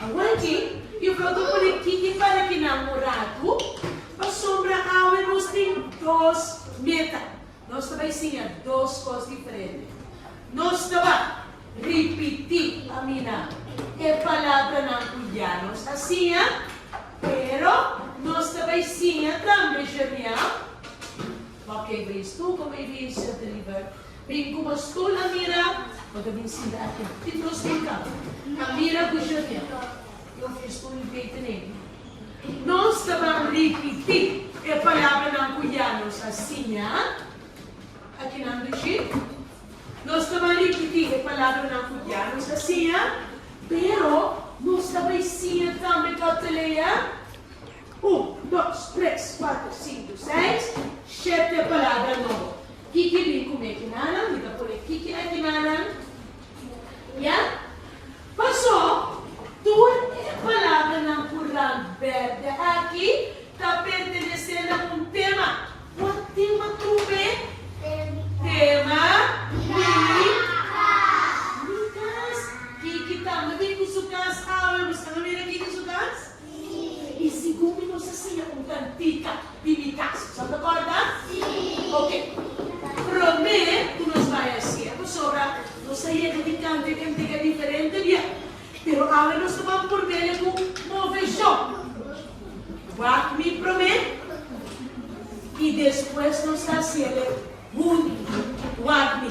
Awor dje, yu creo cu por e kiki para ki nan un ratu, pasobra awe nos tin dos meta. Nos ta bay siña dos cos diferente. Nos ta bay ripiti pa mina e palabranan cu ya nos a siña, pero nos ta bay siña tambe Jermiel Bo ke bris tur ku mi bin ser deliver. Bin ku bo stul a mira, bo ta bin sinta aki. Tin dos binkan. A mira ku Junia i un fistur i bete n'ebi. Nos ta ban ripití e palabranan ku ya nos a siña aki nan dushi. Nos ta ban ripití e palabranan ku ya nos a siña, pero nos ta bai siña tambe papelea. Un, dos, tres, cuatro, cinco, seis, shete palabra nobo. Kiki bin cu me kinanan? Mi ta pone kiki na kinanan. Ya? Paso, tur e palabranan cu ran berde aki ta pertenece na un tema. Cua tema trobe? Tema mi cas. Kiki tambe bin cu su cas awe? Busca na mira kiki su cas. Sí. Y si Gumi nos a siña un cantica di mi casa, nos ta corda? Sí. Ok. Prome cu nos bay a hacer, pasobra nos a yega di canta y cantica diferente bia. Pero awe nos ta ban por mele cu move yo. Wak mi prome y despues nos ta hacele hunto. Wak mi.